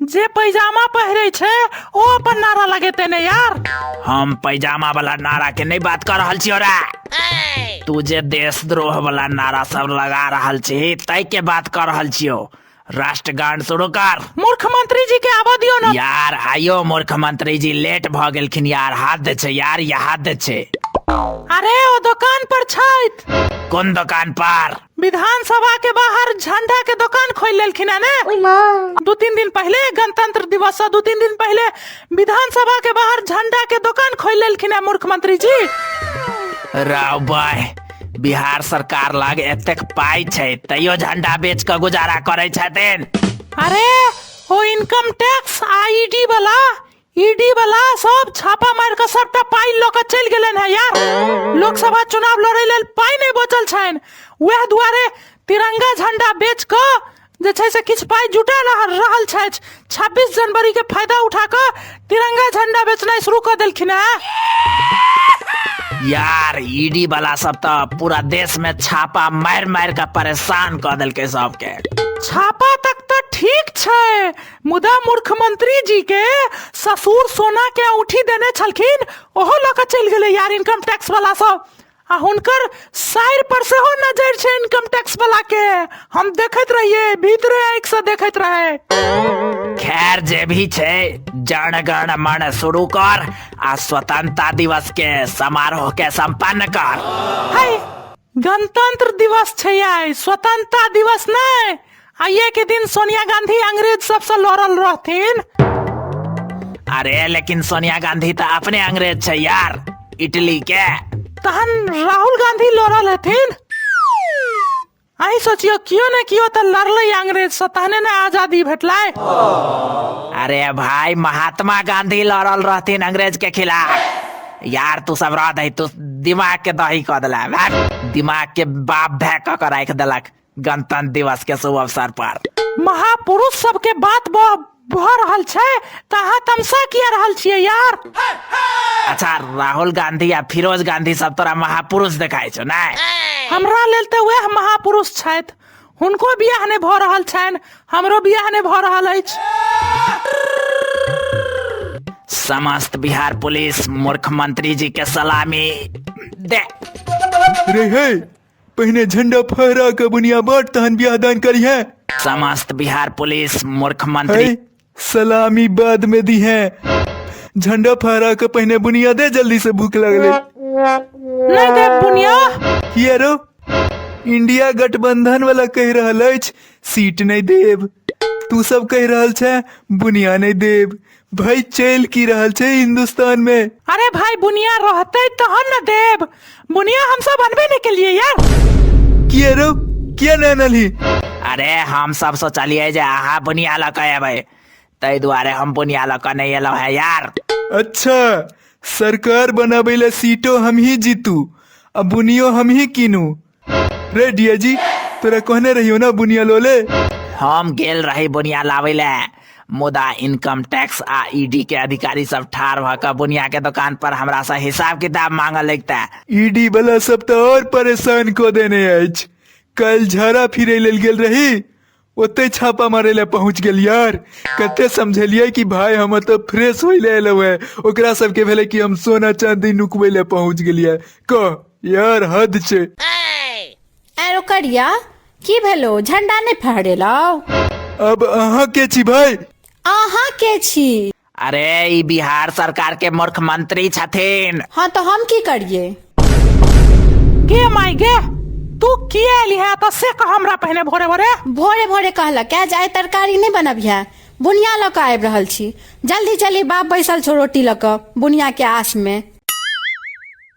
जे पैजामा पहिरे छै ओ अपन नारा लगेते ने यार हम पैजामा वाला नारा के नहीं बात कर रहल छियो रे तू जे देशद्रोह वाला नारा सब लगा रहल छी तय के बात कर रहल छियो राष्ट्रगान शुरू कर मूर्ख मंत्री जी के आबा दियो ना यार आयो मूर्ख मंत्री जी लेट भ गेलखिन यार हाथ दे छै यार ये हाथ दे छै अरे ओ दुकान पर छैत कोन दुकान पर विधानसभा के बाहर झंडा के दुकान खोल लेलखिन है ने ओई माँ दू तीन दिन पहले गणतंत्र दिवस से दू तीन दिन पहले विधानसभा के बाहर झंडा के दुकान खोल लेलखिन है मुख्यमंत्री जी राव भाई बिहार सरकार लग एतेक पाई छै तैयो झंडा बेच के गुजारा करै छथिन अरे ओ इनकम टैक्स आईडी वाला ईडी वाला सब छापा मार के सबटा पाई ल के चल गेले है यार लोकसभा चुनाव लड़े लेल पाई नहीं बचल छैन वह दुआरे तिरंगा झंडा बेच के जे छै से किछ पाई जुटा रहल छै 26 जनवरी के फायदा उठा के तिरंगा झंडा बेचना शुरू कर देलखिन है यार ईडी e वाला सब तो पूरा देश में छापा मार मार के परेशान कर देलके सबके छापा तक तो ठीक छै मुदा मुख्यमंत्री जी के ससुर सोना के औठी देने छलखिन ओहो लऽ कऽ चलि गेलै यार इनकम टैक्स वाला सब आ हुनकर साइर पर सेहो नजर छै इनकम टैक्स वाला के हम देखैत रहिए भीतरे आँखि से देखैत रहे खैर जे भी छै जन गण मन शुरू कर आ स्वतंत्रता दिवस के समारोह के संपन्न कर हाय गणतंत्र दिवस छै आइ स्वतंत्रता दिवस नहि आइये के दिन सोनिया गांधी अंग्रेज सबसँ लड़ल रहथिन अरे लेकिन सोनिया गांधी तऽ अपने अंग्रेज छै यार इटली के तहन राहुल गांधी लड़ल हेथिन अहीं सोचियो कियो ने कियो तऽ लड़लै अंग्रेज से तहने ने आजादी भेटलै अरे भाई महात्मा गांधी लड़ल रहथिन अंग्रेज के खिलाफ यार तू सब रह दही तू दिमाग के दही कऽ देला भाग दिमाग के बाप भय कऽ के राखि देलक गणतंत्र दिवस के शुभ अवसर पर महापुरुष सबके बात भ भऽ रहल छै तऽ अहाँ तमसा किया रहल छियै यार अच्छा राहुल गांधी आ फिरोज गांधी सब तोरा महापुरुष देखाइ छौ नै हमरा लेल तऽ वएह महापुरुष छथि हुनको बियाह नहि भऽ रहल छनि हमरो बियाह नहि भऽ रहल अछि समस्त बिहार पुलिस मूर्ख मंत्री जी के सलामी दे रे हे पहिने झंडा फहरा के बुनिया बाट तहन बियाह दान करिहे समस्त बिहार पुलिस मूर्ख हे मंत्री सलामी बाद में दी है झंडा फहरा के पहने बुनिया दे जल्दी से भूख लगले नहीं दे बुनिया यारो इंडिया गठबंधन वाला कह रहल अछि सीट नहीं देब तू सब कह रहल छै बुनिया नहीं देब भाई चल की रहल छै हिंदुस्तान में अरे भाई बुनिया रहते तहन न देब बुनिया हम सब अनबे नहीं के लिए यार किए रो किए नहीं अनली अरे हम सब सोचलिए जे अहाँ बुनिया लऽ कऽ एबै ताहि दुआरे हम बुनिया लऽ कऽ नहि एलहुँ है यार अच्छा सरकार बनाबै लए सीटो हमही जीतू आ बुनियो हमही कीनू रे डिया जी तोरा कहने रहियो ना बुनिया लोले हम गेल रही बुनिया लाबै ले मुदा इनकम टैक्स आ ईडी के अधिकारी सब ठार भऽ कऽ बुनिया के दुकान पर हमरा से हिसाब किताब मांगऽ लगता ईडी वाला सब तो और परेशान को देने अछि कल झरा फिरे लेल गेल रही ओते छापा मारे ले पहुंच गेल यार कते समझलिए कि भाई हम तो फ्रेश होई ले एलो है ओकरा सब के भेले कि हम सोना चांदी नुकबे ले पहुंच गेलिए क यार हद छे आरो करिया की भेलो झंडा नहीं फहरेलौ अब अहाँ के छी भाई अहाँ के छी अरे ई बिहार सरकार के मूर्ख मंत्री छथिन हाँ तो हम की करिए गे माई गे तू किया एली है तो से कह हमरा पहने भोरे भोरे भोरे भोरे कहला क्या जाए तरकारी नहीं बनबिया बुनिया लऽ कऽ आबि रहल छी जल्दी चली बाप बैसल छौ रोटी लऽ कऽ बुनिया के आस में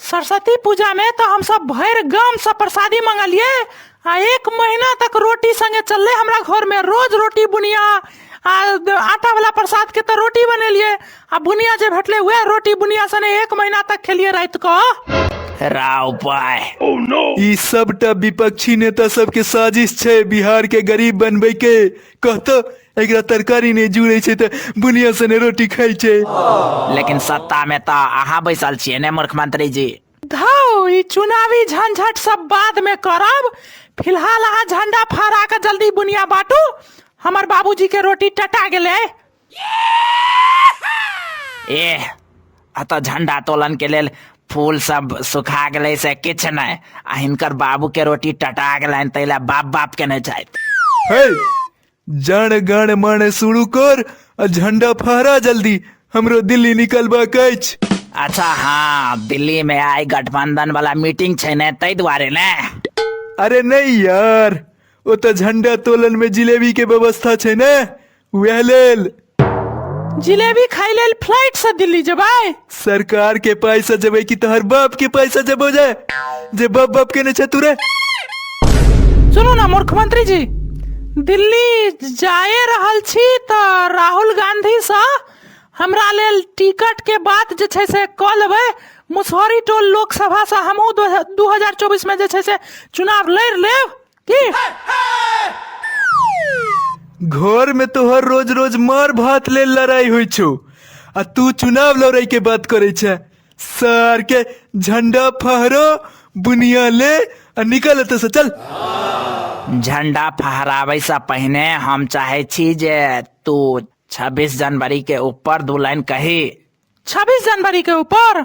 सरस्वती पूजा में तो हम सब भर गाम से प्रसादी मंगलिए आ एक महीना तक रोटी संगे चलले हमरा घर में रोज रोटी बुनिया आ द- आटा वाला प्रसाद के तो रोटी बनेलिए आ बुनिया जे भेटले वह रोटी बुनिया सने एक महीना तक खेलिए रात को राव पाय ई सबटा विपक्षी नेता सबके साजिश छै बिहार के गरीब बनबै के कहतो एकरा तरकारी नहि जुड़े छै तऽ बुनिया सने रोटी खाइ छै लेकिन सत्ता में तो अहाँ बैसल छियै ने मूर्ख मंत्री जी धौ ई चुनावी झंझट सब बाद में करब फिलहाल अहाँ झंडा फहरा के जल्दी बुनिया बांटू हमर बाबूजी के रोटी टटा गेलै ए अतः झंडा तोलन के लेल फूल सब सुखा गेलै से किछु नहि आ हिनकर बाबू के रोटी टटा गेलनि ताहि लए बाप बाप के नहि छथि हे जण गण मण शुरू कर आ झंडा फहरा जल्दी हमरो दिल्ली निकलबाक अछि अच्छा हाँ दिल्ली में आई गठबंधन वाला मीटिंग छै ने ताहि दुआरे ने अरे नहीं यार ओ तो झंडा तोलन में जिलेबी के व्यवस्था छै ने उहे लेल जिलेबी खाइ लेल फ्लाइट से दिल्ली जेबै सरकार के पैसा जबे कि तोहर बाप के पैसा जबो जाए जे बाप बाप के ने छतुरे सुनू ना मूर्ख मंत्री जी दिल्ली जाए रहल छी तऽ राहुल गांधी से हमरा लेल टिकट के बात जे छै से कऽ लेबै मुसहरी टोल लोकसभा से हमहूँ दू हजार चौबीस मे जे छै से चुनाव लड़ि लेब के घर में तोहर रोज रोज मार भात ले लड़ाई होइ छौ आ तू चुनाव लड़ाई के बात करे छे सर के झंडा फहरो बुनिया ले आ निकल एतऽ से चल झंडा फहराबै से पहिने हम चाहे छी जे तू 26 जनवरी के ऊपर दू लाइन कही छब्बीस जनवरी के ऊपर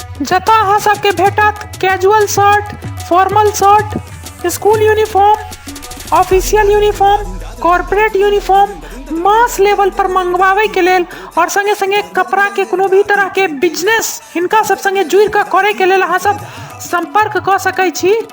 जतय अहाँ सबके भेटत casual shirt formal shirt school uniform official uniform corporate uniform mass level पर मंगवावे के लेल और संगे संगे कपड़ा के कोनो भी तरह के बिजनेस हिनका सब संगे जुड़ के करे के लेल अहाँ सब संपर्क क सकै छी